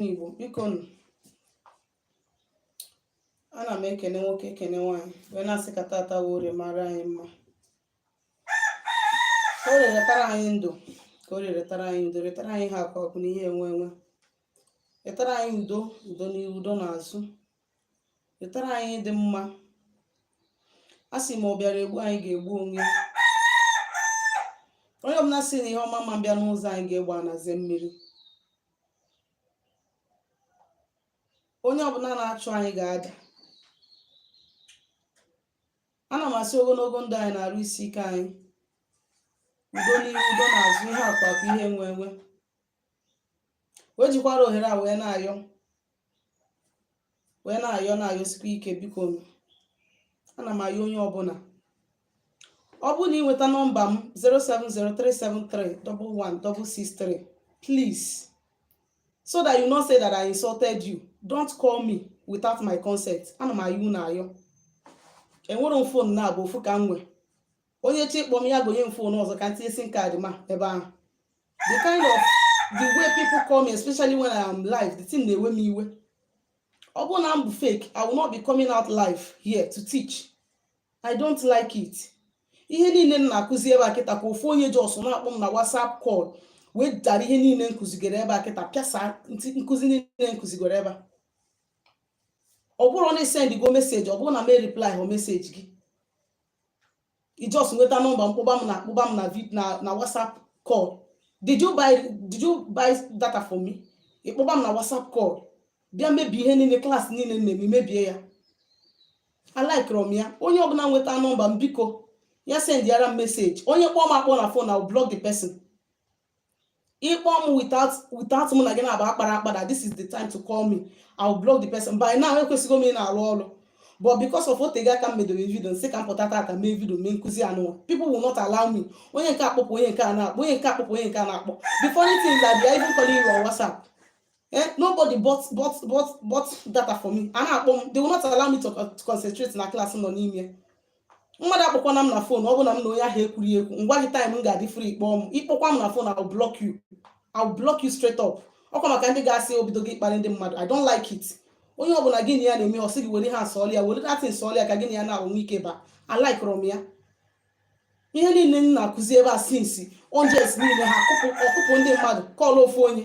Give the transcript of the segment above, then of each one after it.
Igbo biko nụ ana m ekene nwoke ekene nwaanyị wee na-asị ka tata wụ orie mara anyị mma ka orie rietara anyị ndụ ka orie rietara anyị udo rietara anyị ihe akụ akụ na ihe enwe enwe rietara anyị udo udo n'ihu udo n'azụ rietara anyị ihe dị mma a sị ma ọ bịara egbu anyị ga-egbu onwe ya onye ọbụla sị na ihe ọma ama abịa n'ụzọ anyị ga-egbu ana zee mmiri onye ọbụla na-achụ anyị ga-ada ana m asị ogologo ndụ anyị na arụ isi ike anyị udo n'ihu udo n'azụ ihe akụ akụ ihe enwe enwe wee jikwara ohere a wee na-ayọ wee na-ayọ na-ayọsikwa ike biko ana m ayọ onye ọbụla ọ bụrụ na ị nweta nọmba m 07037311663 please so that you not say that I insulted you don't call me without my consent ana m ayọ unu ayọ enwerọ m phone naabọ ofu ka m nwee onye chọọ ịkpọ m ya gonye m phone ọzọ ka m tinye sim card m ebe ahụ the kind of the way people call me especially when I am live the thing na-ewe m iwe ọ bụrụ na m bụ fake I will not be coming out live here to teach I don't like it ihe niile m na-akụzi ebe a kịta ka ofu onye just na-akpọ m na WhatsApp call wee dara ihe niile m kụzigoro ebe a kịta pịasa nkụzi niile m kụzigoro ebe a ọ bụrụ na i sendgo message ọ bụrụ na m ereplyhọ message gị i just nweta nọmba m kpọba m na kpọba m na vid na na whatsapp call did you buy did you buy data for me ị kpọba m na whatsapp call bịa mebie ihe niile class niile m na-eme i mebie ya alikerọ m ya onye ọbụla nweta nọmba m biko ya sendiara m message onye kpọọ m akpọ na phone I'll block the person ị kpọọ m without without mụ na gị naabọ akpara akpa that this is the time to call me I will block the person by now ekwesịgo m ị na-arụ ọrụ but because of o tego aka m medoro video m sị ka m pụta tata mee video mee nkụzi anụnwa people will not allow me onye nke a kpọpụ onye nke a na-akpọ onye nke a kpọpụ onye nke a na-akpọ the funny thing is that they are even calling you on WhatsApp eh nobody bought bought bought bought data for me a na-akpọ m they will not allow me to, to concentrate na class m nọ n'ime mmadụ akpọkwana m na phone ọ bụ na m na onye ahụ ekwurọ ekwu m gwa gị time m ga-adị free ị kpọọ m ị kpọkwa m na phone I'll block you I'll block you straight up ọ kwa maka ndị ga-asị o bidogo ịkparị ndị mmadụ I don't like it onye ọbụla gị na ya na-eme ọ sị gị were ha asọọlị ya were datin sọọlị ya ka gị na ya na-ahụ ike ba alikerọ m ya ihe niile m na-akụzi ebe a since m just niile ha ọkụpụ ndị mmadụ call ofu onye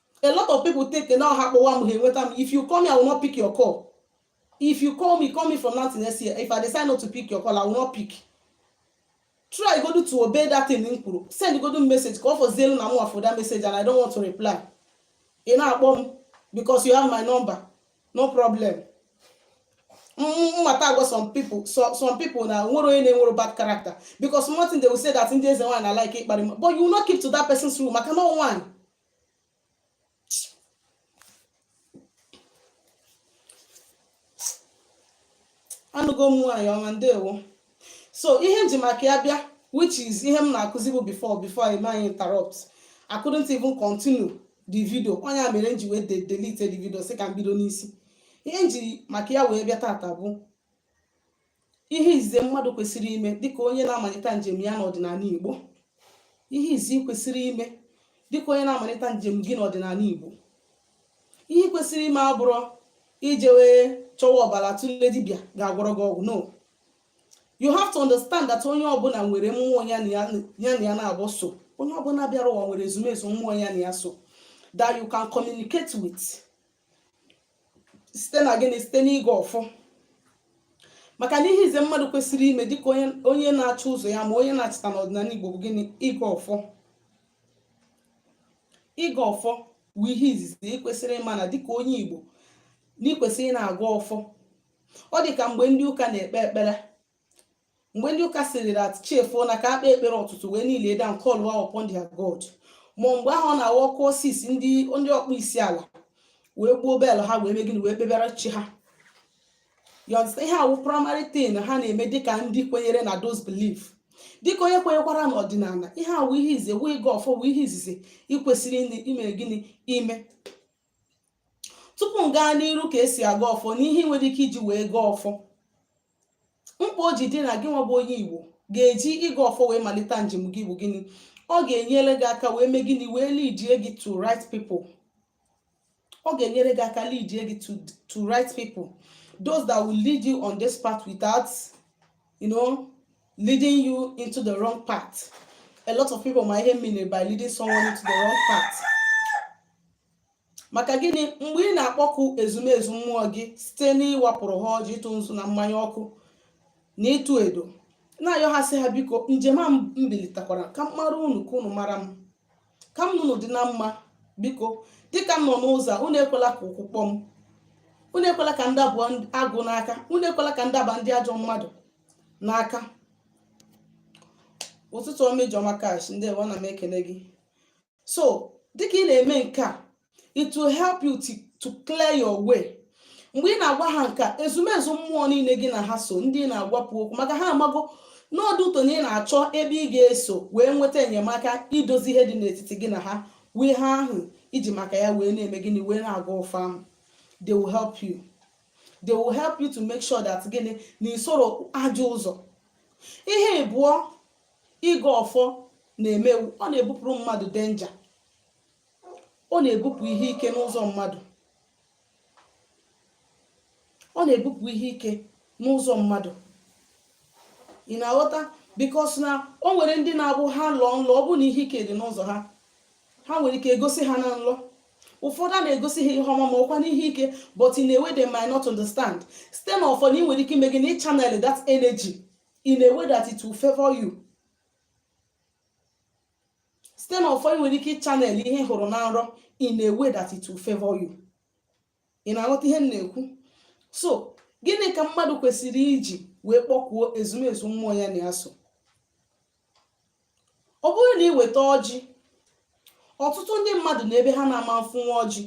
a lot of people think na ọ ha kpọwa m ha enweta m if you call me i will not pick your call if you call me call me from now to next year if i decide not to pick your call i will not pick try godu to obey that thing m kwuru send godu message ka ọ fọzielu na mwa fụ that message and i don't want to reply ị na-akpọ m because you have my number no problem mmata agwa some people so- some people na nwere onye na-enwere bad character because one thing they will say that ndị eze nwaanyị na-alike ịkparị mmadụ but you will not keep to that person's rule maka na ọ nwaanyị anụgo m nwaanyị ọma ndewo so ihe nji maka ya bịa which is ihe m na-akụzi bụ before before e mee anyị interrupt I couldn't even continue the video ọ nya mere m ji wee delete the video sị ka m bido n'isi ihe nji maka ya wee bịa taata bụ ihe izizi mmadụ kwesịrị ime dịka onye na-amalite njem ya n'ọdịnala Igbo ihe izizi ị kwesịrị ime dịka onye na-amalite njem gị n'ọdịnala Igbo ihe ị kwesịrị ime abụrọ ije wee chọwa ọbara tụle dibịa ga-agwọrọ gị ọgwụ no you have to understand that onye ọbụla nwere mmụọ ya na ya na-abụ so onye ọbụla bịara ụwa nwere ezumezu mmụọ ya na ya so that you can communicate with site na gịnị site n'ịgọ ọfọ maka na ihe izizi mmadụ kwesịrị ime dịka onye onye na-achọ ụzọ ya ma onye na-achịta n'ọdịnala Igbo bụ gịnị ịgọ ọfọ ịgọ ọfọ bụ ihe izizi ị kwesịrị ịma na dịka onye Igbo na ị kwesịrị ịna-agọ ọfọ ọ dị ka mgbe ndị ụka na-ekpe ekpere mgbe ndị ụka sịrị that chi foo na ka e kpee ekpere ụtụtụ wee kneelie down callwa upon their god ma mgbe ahụ ọ na-awụ ọ kụọ six ndị ndị ọkpọ isi ala wee gbuo bell ha wee mee gịnị wee kpebara chi ha you understand ihe a wụ primary thing ha na-eme dịka ndị kwenyere na those belief dịka onye kwenyekwara n'ọdịnala ihe a wụ ihe izizi wụ ịgọ ọfọ wụ ihe izizi ị kwesịrị ime gịnị ime tupu m gaa n'iru ka e si agọ ọfọ na ihe i nwere ike iji wee gọọ ọfọ mkpa o ji dị na gị nwa bụ onye igbo ga-eji ịgọ ọfọ wee malite njem gị bụ gịnị ọ ga-enyere gị aka wee mee gịnị wee leadie gị to right people ọ ga-enyere gị aka leadie gị to to right people those that will lead you on this path without you know leading you into the wrong path. A lot of people might hate me by leading someone into the wrong path. maka gịnị mgbe ị na-akpọku ezumezu mmụọ gị site n'ịwapụrụ ha ọjị ịtụ nzu na mmanya ọkụ na ịtụ edo na-ayọ ha sị ha biko njem a m bilitekwara ka m mara unu ka unu mara m ka m na unu dị na mma biko dịka m nọ n'ụzọ a unu ekwela ka ụkwụ kpọọ m unu ekwela ka m daba agụ n'aka unu ekwela ka m daba ndị ajọ mmadụ n'aka ụtụtụ ọma ijeọma cash ndewo ana m ekele gị so dịka ị na-eme nke a it will help you to, to clear your way mgbe ị na-agwa ha nke a ezumezu mmụọ niile gị na ha so ndị ị na-agwapụ okwu maka ha amago na ọ dị ụtọ na ị na-achọ ebe ị ga-eso wee nweta enyemaka idozi ihe dị n'etiti gị na ha wụ ihe ahụ i ji maka ya wee na-eme gịnị wee na-agọ ọfọ ahụ they will help you they will help you to make sure that gịnị na i soro ajọ ụzọ ihe ịbụọ ịgọ ọfọ na-eme wụ ọ na-ebupụrụ mmadụ danger ọ na-ebupụ ihe ike n'ụzọ mmadụ ọ na-ebupụ ihe ike n'ụzọ mmadụ ị na-aghọta because na o nwere ndị na-abụ ha lọọ nlọ ọ bụ na ihe ike dị n'ụzọ ha ha nwere ike egosi ha na nlọ ụfọdụ a na-egosi ha ihe ọma ma ọ kwanụ ihe ike but in a way they might not understand site n'ọfọ ị nwere ike ime gịnị ịchannel that energy in a way that it will favor you site n'ọfọ ị nwere ike ịchannel ihe ị hụrụ na nrọ in a way that it will favor you ị na-aghọta ihe m na-ekwu so gịnị ka mmadụ kwesịrị iji wee kpọkuo ezumezu mmụọ ya na ya so ọ bụrụ na ị weta ọjị ọtụtụ ndị mmadụ nọ ebe ha na-ama afụnwu ọjị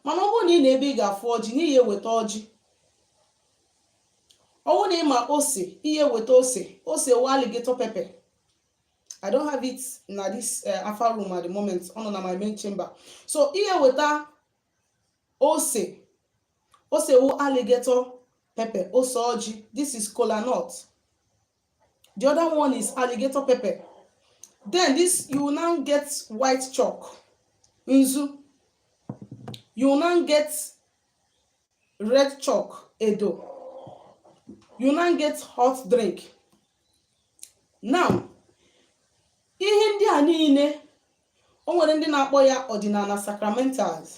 mana ọ bụrụ na ị nọ ebe ị ga-afụ ọjị na ị ya-eweta ọjị ọ bụrụ na ị ma ose ị ya-eweta ose ose wụ alligator pepper I don't have it na this uh, alpha room at the moment ọ nọ na my main chamber so ihe weta ose ose wu alligator pepper ose ọjị this is kola nut the other one is alligator pepper then this you will now get white chalk nzu you will now get red chalk edo you will now get hot drink now ihe ndị a niile o nwere ndị na-akpọ ya ọdịnala sacramentals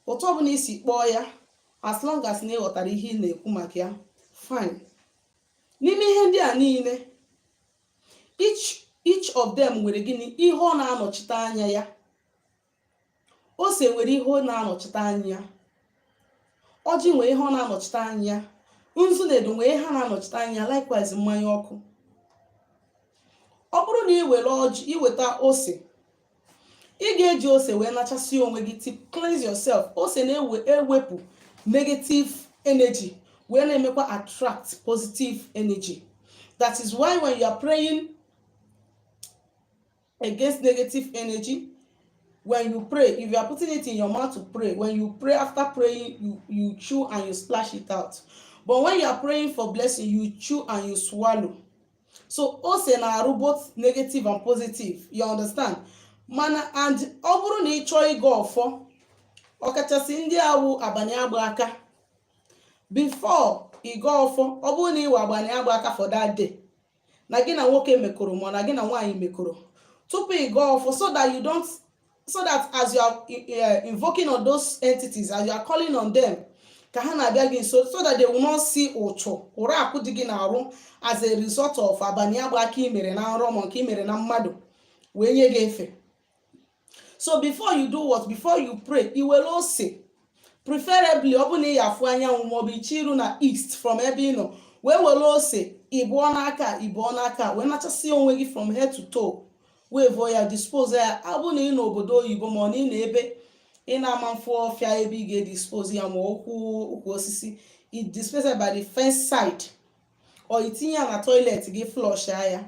otu ọbụla i si kpọọ ya as long as na ị ghọtara ihe ị na-ekwu maka ya fine n'ime ihe ndị a niile each of them nwere gịnị ihe ọ na-anọchite anya ya ose nwere ihe ọ na-anọchite anya ọjị nwere ihe ọ na-anọchite anya nzu na edo nwere ihe ha na-anọchite anya likewise mmanya ọkụ ọ bụrụ na ị were ọjị ị weta ose ị ga-eji ose wee nachasịa onwe gị to cleanse yourself ose na-ewepụ negative energy wee na-emekwa attract positive energy that is why when you are praying against negative energy when you pray if you are putting it in your mouth to pray when you pray after praying you you chew and you splash it out but when you are praying for blessing you chew and you swallow so ose na-arụ both negative and positive you understand mana and ọ bụrụ na ị chọọ ịgọ ọfọ ọkachasị ndị awụ abanị agba aka before ịgọ ọfọ ọ bụrụ na ị wụ abanị agba aka for that day na gị na nwoke mekọrọ ma na gị na nwaanyị mekọrọ tupu ị gọọ ọfọ so that you don't so that as you are uh, invoking on those entities as you are calling on them ka ha na-abịa gị nso so that they will not see uchu ụra akwụ dị gị n'arụ as a result of abalị agba aka i mere na nrọ ma nke i mere na mmadụ wee nye gị efe so before you do what before you pray i were ose preferably ọ bụrụ na ị ya-afụ anyanwụ maọbụ i chee iru na east from ebe ị nọ wee were ose ịbụọ n'aka ịbụọ n'aka wee nachasịa onwe gị from head to toe wee vụọ ya dispose ya ọ bụ na ị nọ obodo oyibo ma ọ na ị nọ ebe ị na-ama afụ ọfịa ebe ị ga-edispose ya ma ukwu ukwu osisi i dispose ya by the fence side or i tinye ya na toilet gị flush ya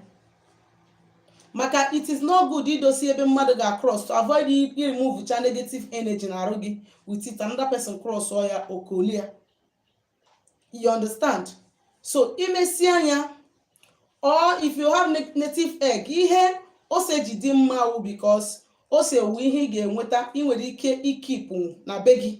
maka it is not good idosi ebe mmadụ ga-across to avoid i removecha negative energy na arụ gị with it another person crossọ ya o kolia you understand so i mesịa nya or if you have native egg ihe ose ji dị mma wụ because ose wu ihe ị ga-enweta ị nwere ike ikeepụ na be gị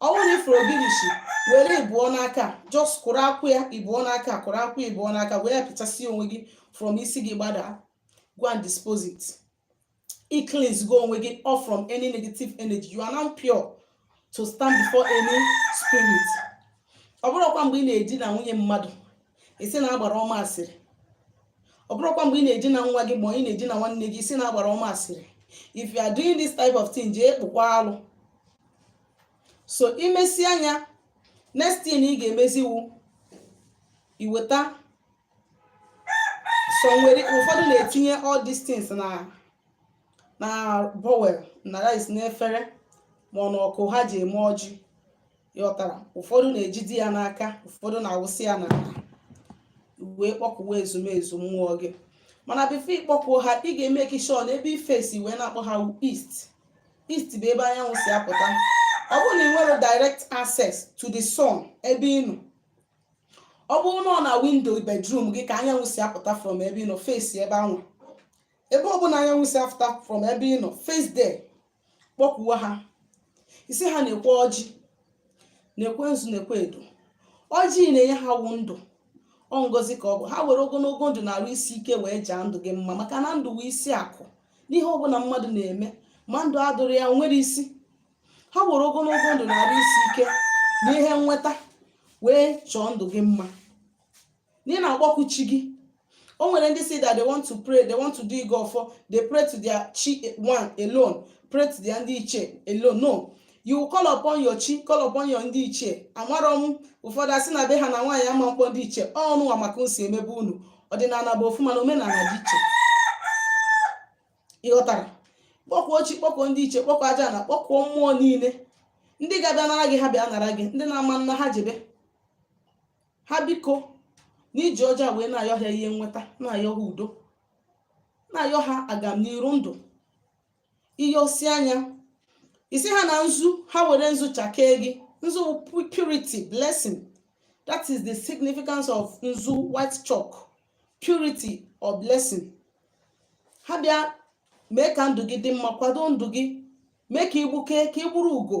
ọ bụrụ na ị fụrụ ogirishi were ịbụọ n'aka just kụrụ akwụ ya ịbụọ n'aka kụrụ akwụ ya ịbụọ n'aka were pịachasị onwe gị from isi gị gbada go and dispose it i cleanse go onwe gị off from any negative energy you are now pure to stand before any spirit ọ bụrụkwa mgbe ị na-edina nwunye mmadụ ị sị na agbara ọ ma asịrị ọ bụrụkwa mgbe ị na-edina nwa gị ma ị na-edina nwanne gị ị sị na agbara ọ ma asịrị if you are doing this type of thing jee kpụkwaa alụ so i mesịa nya next thing ị ga-emezi wụ iweta somewhere ụfọdụ na-etinye all these things na na bowl na rice n'efere ma ọ na ọkụ ha ji eme ọjị ị ghọtara ụfọdụ na-ejide ya n'aka ụfọdụ na-awụsị ya n'ala wee kpọkuwa ezumezu mmụọ gị mana before ị kpọkuo ha ị ga-emake sure na ebe i face wee na-akpọ ha east east bụ ebe anyanwụ si apụta ọ bụrụ na ị nwere direct access to the sun ebe ị nọ ọ bụrụ na ọ na window bedroom gị ka anyanwụ si apụta from ebe ị nọ face ebe anwa ebe ọ bụla anyanwụ si apụta from ebe ị nọ face there kpọkuwa ha ị sị ha nekwe ọjị nekwe nzu nekwe edo ọjị na-enye ha wụ ndụ ọ ngozi ka ọ bụ ha were ogologo ndụ na arụ isi ike wee jaa ndụ gị mma maka na ndụ wụ isi akụ n'ihe ọbụla mmadụ na-eme ma ndụ adịrọ ya enwerọ isi ha were ogologo ndụ na arụ isi ike na ihe nweta wee chọọ ndụ gị mma na ị na-akpọku chi gị o nwere ndị si that they want to pray they want to do ịgọ ọfọ they pray to their chi one alone pray to their ndị ichie alone no you call upon your chi call upon your ndị ichie amarọ m ụfọdụ asị na be ha na nwaanyị ama mkpọ ndị ichie unu nwa ma ka e si eme be unu ọdịnala bụ ofu mana omenala dị iche ị ghọtara kpọkuo chi kpọkuo ndị ichie kpọkuo ajana kpọkuo mmụọ niile ndị ga-abịa nara gị ha bịa nara gị ndị na-ama nna ha jebe ha biko na i ji ọjị a wee na-ayọ ha ihe nweta na-ayọ ha udo na-ayọ ha agamniru ndụ ị yọsịa nya ị sị ha na nzu ha were nzu chakee gị nzu purity blessing that is the significance of nzu white chalk purity or blessing ha bịa mee ka ndụ gị dị mma kwado ndụ gị mee ka i gbukee ka ị ugo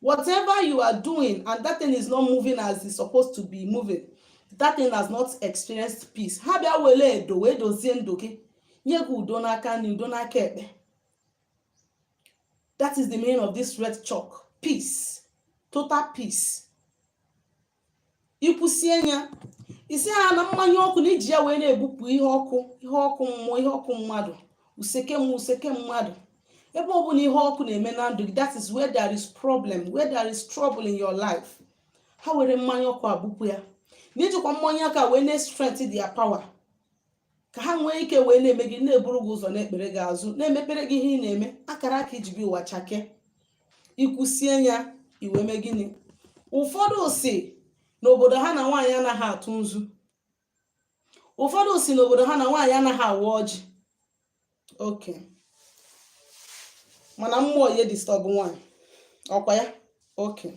Whatever you are doing and that thing is not moving as it's supposed to be moving, that thing has not experienced peace. Ha bịa were edo wee dozie ndụ gị nye gị udo n'aka nri udo n'aka ekpe. That is the meaning of this red chalk. Peace. Total peace. i kwusie nya ị sị ha na mmanya ọkụ na i ji ya wee na-ebupụ ihe ọkụ ihe ọkụ mmụọ ihe ọkụ mmadụ useke mmụọ useke mmadụ ebe ọ bụla ihe ọkụ na-eme na ndụ gị that is where there is problem where there is trouble in your life ha were mmanya ọkụ abụpụ ya na i jikwa mmanya aka wee na-strengthen their power ka ha nwee ike wee na-eme gị na-eburu gị ụzọ na-ekpere gị azụ na-emepere gị ihe ị na-eme akara aka i ji bịa ụwa chakee i kwusie nya i wee mee gịnị ụfọdụ si n'obodo ha na nwaanyị anaghị atụ nzu ụfọdụ si n'obodo ha na nwaanyị anaghị awa ọjị okay mana mmụọ na-edisturb nwaanyị ọ kwa ya okay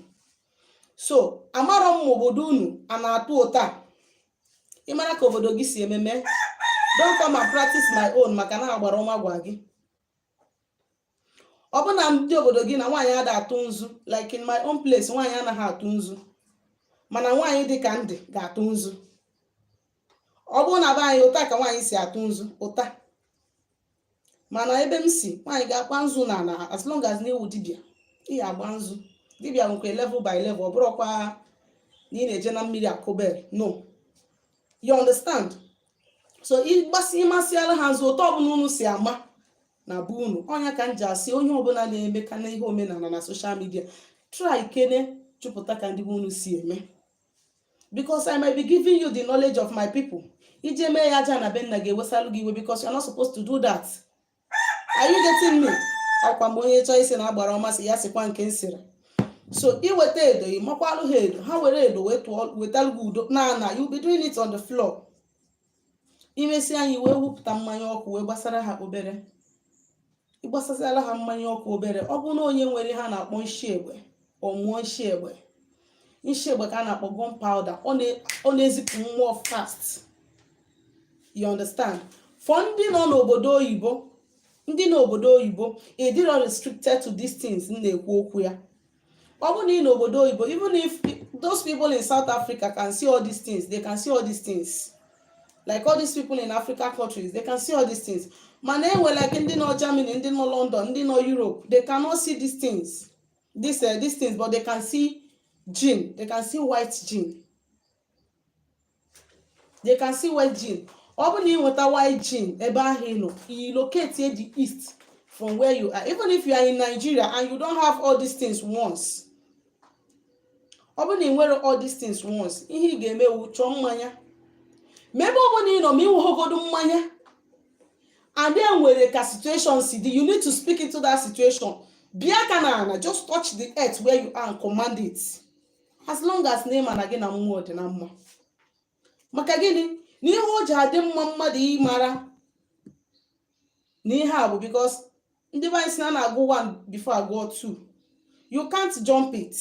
so amarọ m ma obodo unu a na-atụ otu a ị mara ka obodo gị si eme mee don't come and practice my own maka na agbara ọma gwa gị ọ bụ na ndị obodo gị na nwaanyị ada atụ nzu like in my own place nwaanyị anaghị atụ nzu mana nwaanyị dị ka m dị ga-atụ nzu ọ bụrụ na be anyị otu a ka nwaanyị si atụ nzu otu a mana ebe m si nwaanyị ga-akpa nzu na ala as long as na ị wụ dibịa ị ga-agba nzu dibịa nwekwa level by level ọ bụrụkwa na ị na-eje na mmiri akụ bell no you understand so ịgbasi ị masịala ha nzu otu ọbụla unu si ama na be unu ọ nya ka m ji asị onye ọbụla na-eme ka na ihe omenala na social media try kene chọpụta ka ndị be unu si eme because i might be giving you the knowledge of my people i je mee ya aja ana be nna ga-ewesalụ gị iwe because you're not supposed to do that are you getting me ọkwa mgbe onye chọọ isi na agbara ọmasị ya sikwa nke nsịrị so i weta edo ị makwalụ ha edo ha were edo wetalụ gị udo na ana you be doing it on the floor i mesịa anyị wee wụpụta mmanya ọkụ wee gbasara ha obere ị gbasasịala ha mmanya ọkụ obere ọ bụrụ na onye nwere ihe a na-akpọ nshi egbe ọ mụọ nshi egbe nshi egbe ka a na-akpọ gun powder ọ na-ezipụ mmụọ fast you understand for ndị nọ n'obodo oyibo ndị nọ obodo oyibo ịdịrọ restricted to these things m na-ekwu okwu ya ọ bụrụ na ị n'obodo oyibo even if those people in south africa can see all these things they can see all these things like all these people in africa countries they can see all these things mana enwe like ndị nọ germany ndị nọ london ndị nọ europe they cannot see these things these, uh, these things but they can see gene they can see white gene they can see white gin ọ bụrụ na ị nweta white gin ebe ahụ ị nọ i locatie the east from where you are even if you are in nigeria and you don't have all these things once ọ bụrụ na i nwerọ all these things once ihe ị ga-eme wu chọọ mmanya maybe ọ bụ na ị nọ ma i nweghọgodu mmanya and then nwere ka situation si dị you need to speak into that situation bịa aka na ana just touch the earth where you are and command it as long as na ị ma na gị na mmụọ dị na mma maka gịnị na ihe o ji adị mma mmadụ ịmara na ihe a bụ because ndị be anyị sị na a na-agụ one before agụọ two you can't jump it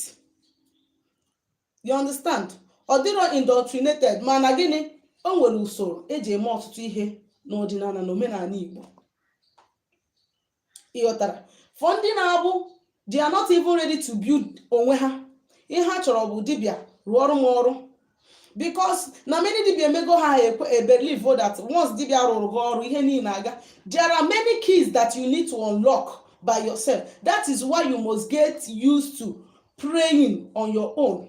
you understand ọ dịrọ indoctrinated mana gịnị o nwere usoro e ji eme ọtụtụ ihe n'ọdịnala na omenala Igbo ị ghọtara for ndị na-abụ they are not even ready to build onwe ha ihe ha chọrọ bụ dibịa rụọrụ m ọrụ because na many dibia emego ha ebelieve that once dibia rụrụ gị ọrụ ihe niile aga there are many keys that you need to unlock by yourself that is why you must get used to praying on your own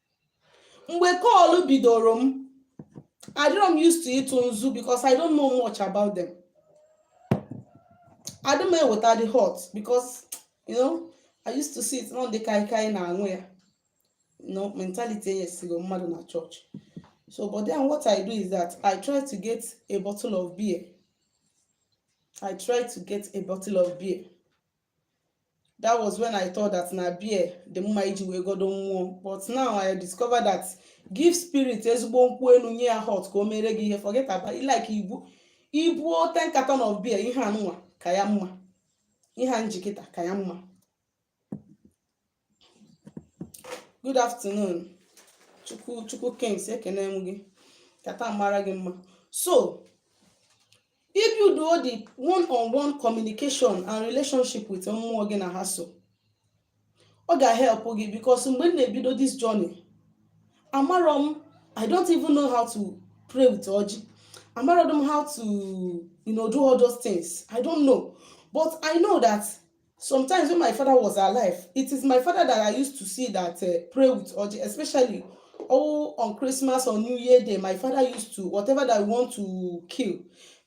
mgbe call bidoro m adịrọ m used to ịtụ nzu because I don't know much about them adị m eweta the hot because you know I used to see it na ọ ndị kaikai na-aṅụ ya you know mentality e nyesigo mmadụ na church so but then what I do is that I try to get a bottle of beer I try to get a bottle of beer that was when i thought that na beer dị mma iji wee godo mmụọ but now i discover that give spirit ezigbo nkwụ enu nye ya hot ka o mere gị ihe forget about it like ibu i buo 10 carton of beer ihe a nwa ka ya mma ihe a m ji kịta ka ya mma good afternoon chukwu chukwu kings ekene m gị ka taa mara gị mma so if you do the one on one communication and relationship with mmụọ gị na ha so ọ ga-help gị because mgbe m na-ebido this journey amarọ m i don't even know how to pray with ọjị amarọ m how to you know, do all those things i don't know but i know that Sometimes when my father was alive, it is my father that I used to see that uh, pray with ọjị, especially oh on Christmas or New Year Day. My father used to whatever that I want to kill,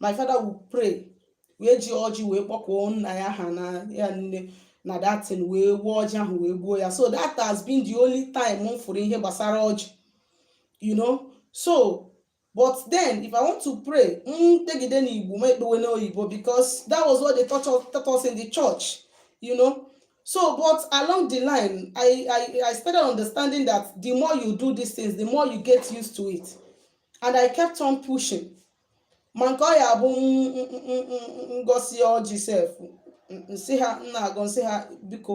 my father would pray. wee ji ọjị wee kpọkuo nna ya ha na ya nne na that thing wee wuo ọjị ahụ wee gbuo ya so that has been the only time m fụrụ ihe gbasara ọjị you know so but then if i want to pray m mm, kpegide n'igbo m ekpewe n'oyibo because that was what they taught us, taught us in the church you know so but along the line I, I i started understanding that the more you do these things the more you get used to it and i kept on pushing ma nke ọ ya bụ m gosi ọjị sef m sị ha m na-agọ m sị ha biko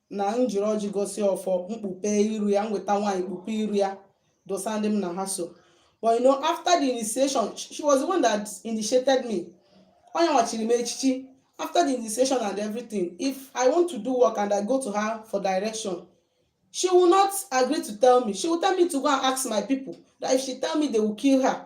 na m jiri ọjị gosi ọfọ m kpupe iru ya m weta wine kpupe iru ya dosa ndị m na ha so but you know after the initiation she was the one that initiated me ọ ya nwa chiri m echichi after the initiation and everything if i want to do work and i go to her for direction she will not agree to tell me she will tell me to go and ask my people that if she tell me they will kill her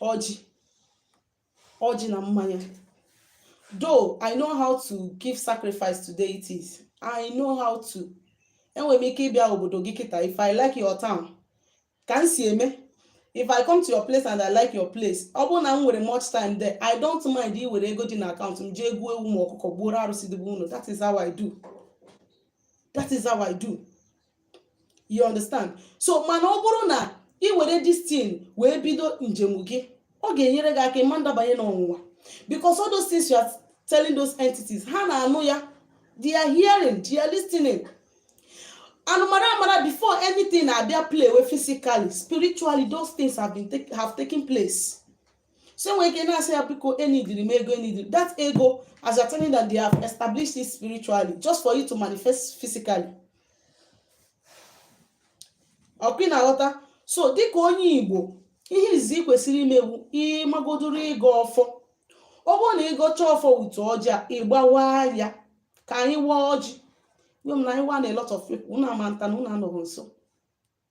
ọjị ọjị na mmanya though i know how to give sacrifice to deities i know how to enwere m ike ịbịa obodo gị kịtaa if i like your town ka m si eme if i come to your place and i like your place ọ bụrụ na m nwere much time there i don't mind iwere ego dị na account m jee goo ewu ma ọkụkọ gbuoro arụsị dị be unu that is how i do that is how i do you understand so mana ọ bụrụ na ị were this thing wee bido njem gị ọ ga-enyere gị aka ị ma ndabanye n'ọnwụnwa because all those things you are telling those entities ha na-anụ ya they are hearing they are listening anụmara amara before anything na-abịa playwe physically spiritually those things have been take, have taken place so nwere ike na-asị ya biko eneediri m ego eneediri that ego as you're telling that they have established it spiritually just for you to manifest physically ọkwa ị na-aghọta so dịka onye igbo ihe izizi i kwesịrị ime wụ ịmagodoro ịgọ ọfọ ọ bụrụ na ị gọchaa ọfọ wete ọjị a ị gbawaa ya ka anyị waa ọjị gwe m na anyị waa na a lot of people unu ama nta na unu anọghị nsọ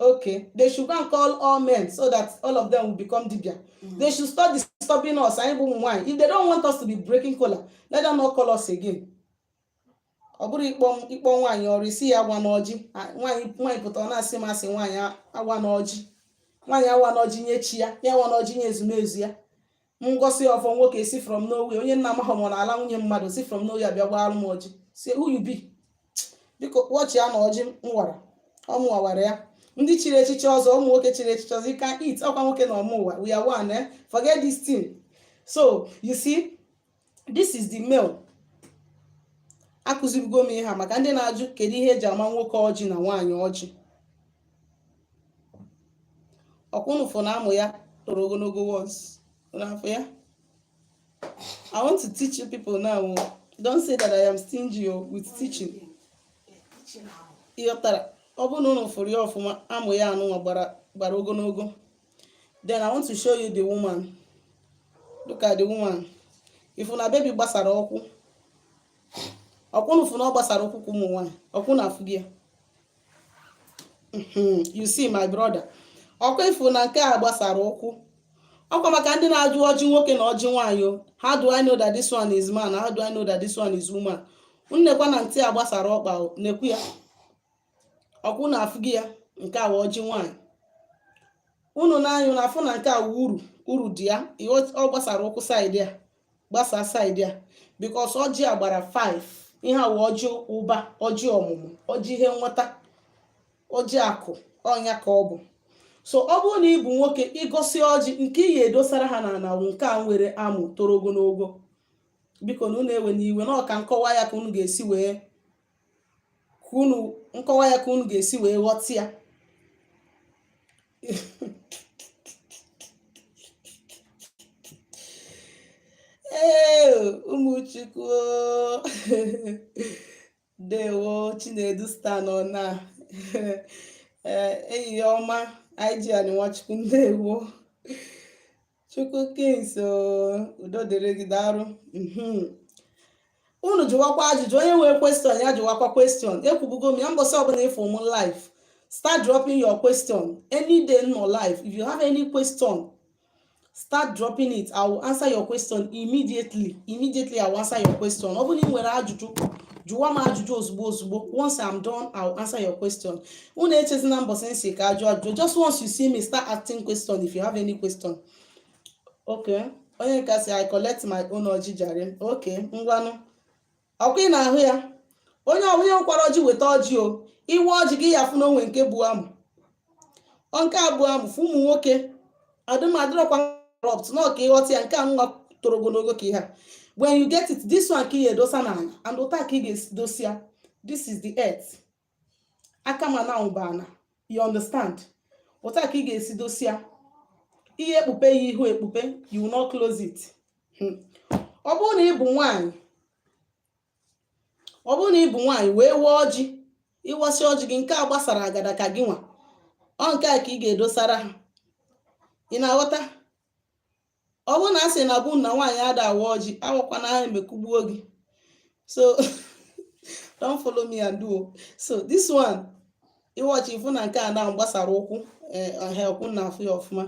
Okay, they should go and call all men so that all of them will become dibia. Mm. They should stop disturbing us. Anyị bụ nwaanyị. If they don't want us to be breaking kola, let them not call us again. Ọ bụrụ ịkpọ m- ị kpọọ nwaanyị ọrụ ị sị ya agọna ọjị. Ah, Nwaanyị nwaanyị pụtara ọ na-asị m asị nwaanyị a- awana ọjị. Nwaanyị awana ọjị nye chi ya, ya awana ọjị nye ezumezu ya. m gọsịa ọfọ nwoke si from nowhere onye m na-amaghị ma ọ na-ala nwunye mmadụ si from nowhere bịa gbara m ọjị sị who you be biko watch ya na ọjị m wara ọ mụwa wara ya ndị chiri echichi ọzọ ụmụ nwoke chiri echichi ọzọ you can eat ọkwa nwoke na ọ mụwa we are one eh? forget this thing so you see this is the male akụzibugo m ihe a maka ndị na-ajụ kedu ihe eji ama nwoke ọjị na nwaanyị ọjị ọkwa unu fụ na amụ ya toro ogologo once n'afọ ya i want to teach you people now o. don't say that i am stingy o with teaching ị ghọtara ọ bụrụ na unu fụrụ ya ọfụma amụ ya anụnwa gbara gbara ogologo then i want to show you the woman look at the woman ị fụ na baby gbasara ụkwụ ọkwa unu fụ na ọ gbasara ụkwụ ka ụmụ nwaanyị ọkwa unu afụgo ya mhm, you see my brother ọkwa ị fụ na nke a gbasara ụkwụ ọkwa maka ndị na-ajụ ọjị nwoke na ọjị nwaanyị o how do i know that this one is man how do i know that this one is woman nekwa na ntị a gbasara ọkpa nekwa ya ọkwa unu afụgo ya nke a wụ ọjị nwaanyị unu na-a- unu na-afụ na nke awa uru uru dị ya ọ gbasara ụkwụ side a gbasaa side a because ọjị a gbara 5 ihe a wụ ọjị ụba ọjị ọmụmụ ọjị ihe nweta ọjị akụ ọ ya ka ọ bụ so ọ bụrụ na ị bụ nwoke ị gọsịa ọjị nke ị ya-edosara ha n'ana wụ nke a nwere amụ toro ogologo biko na unu ewena iwe na ọ ka m kọwaa ya ka unu ga-esi wee ka unu m kọwaa ya ka unu ga-esi wee ghọta ya ee ụmụchukwu dewo chinedu star nna enyi ọma ig anyị nwachukwu ndewo Chukwu Kings udo dịrị gị daarụ mhm. unu jụwakwa ajụjụ onye nwere question ya jụwakwa question ekwubugo m ya mbọsị ọbụla ị fụ m live start dropping your question any day m nọ live if you have any question start dropping it i will answer your question immediately immediately i will answer your question ọ bụrụ na ị nwere ajụjụ jụwa m ajụjụ ozugbo ozugbo once i'm done i will answer your question unu echezina mbọsị m sị ka a jụa ajụjụ just once you see me start asking question if you have any question okay onye nke sị i collect my own ọjị jare okay ngwanụ ọkwa ị na-ahụ ya onye ọbụla nwekwara ọjị weta ọjị o i we ọjị gị ị ya-afụ na o nwe nke bụ amụ ọ nke a bụ amụ for ụmụ nwoke adịrọkwa corrupt na ọ ka ị ghọta ya nke a nwa toro ogologo ka ihe a when you get it this one ka ị ga-edosa n'ala and otu a ka ị ga-edosi ya this is the earth aka m a na ọ bụ ana you understand otu a ka ị ga-esi dosia i ye-ekpupe ya ihu ekpupe you will not close it Hmm. ọ bụrụ na ị bụ nwaanyị ọ bụrụ na ị bụ nwaanyị wee wee ọjị ị wasịa ọjị gị nke a gbasara agada ka gị nwa ọ nke a ka ị ga-edosara ha ị na-aghọta ọ bụrụ na a sị na be unu na nwaanyị ada awa ọjị awakwana ha eme kụgbuo gị so don't follow me and do so this one ị wachaa ị fụ na nke a nwa gbasara ụkwụ eh, ọkwa unu na-afụ ya ọfụma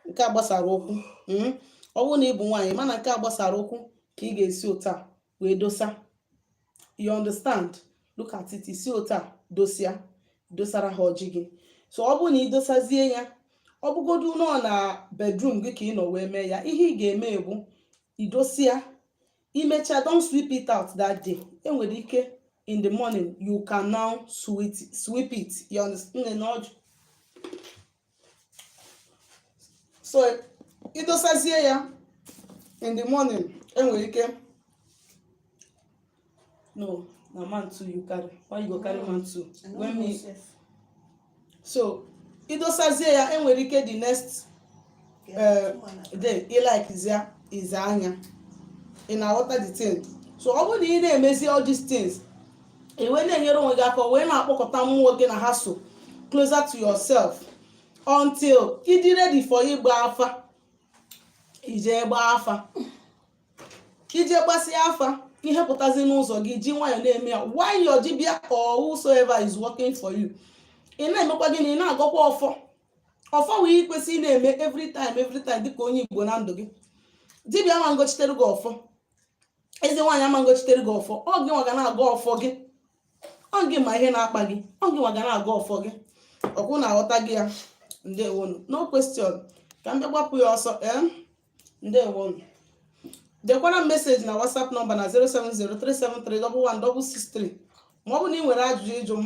nke a gbasara ụkwụ hmm? ọ bụrụ na ị bụ nwaanyị ma na nke a gbasara ụkwụ ka ị ga-esi otu a wee dosa you understand look at it i si otu a dosia dosara ha ọjị gị so ọ bụrụ na ị dosazie ya ọ bụgodu na ọ na bedroom gị ka ị nọ wee mee ya ihe ị ga-eme bụ i dosia i mechaa don't sweep it out that day e nwere ike in the morning you can now sweep it you understand so idosazie ya in the morning enwere ike no na mantu you carry why you go carry mantu when me so idosazie ya enwere ike the next eh, then ị like zia ize anya ị na-aghọta the thing so ọ bụrụ na ị na-emezi all these things ị wee na-enyere onwe gị aka wee na-akpọkọta mmụọ gị na ha so closer to yourself until ị dị ready for ịgba afa i je gbaa afa i je gbasịa afa ihe pụtazi n'ụzọ gị i ji nwayọọ na-eme ya while your dibia or whosoever is working for you ị na-emekwa gịnị ị na-agọkwa ọfọ ọfọ wụ ihe i kwesị ịna-eme every time every time dịka onye igbo na ndụ gị dibịa ama ngọchitere gị ọfọ eze nwaanyị ama ngọchitere gị ọfọ ọ gị nwa ga na-agọ ọfọ gị ọ gị ma ihe na-akpa gị ọ gị nwa ga na-agọ ọfọ gị ọkwa unu aghọtago ya ndewonu no question ka m bịa gbapụ ya ọsọ ee ndewonu dekwara m meseji na whatsapp nọmba na 07037316663 ma ọ bụ na ị nwere ajụjụ ịjụ m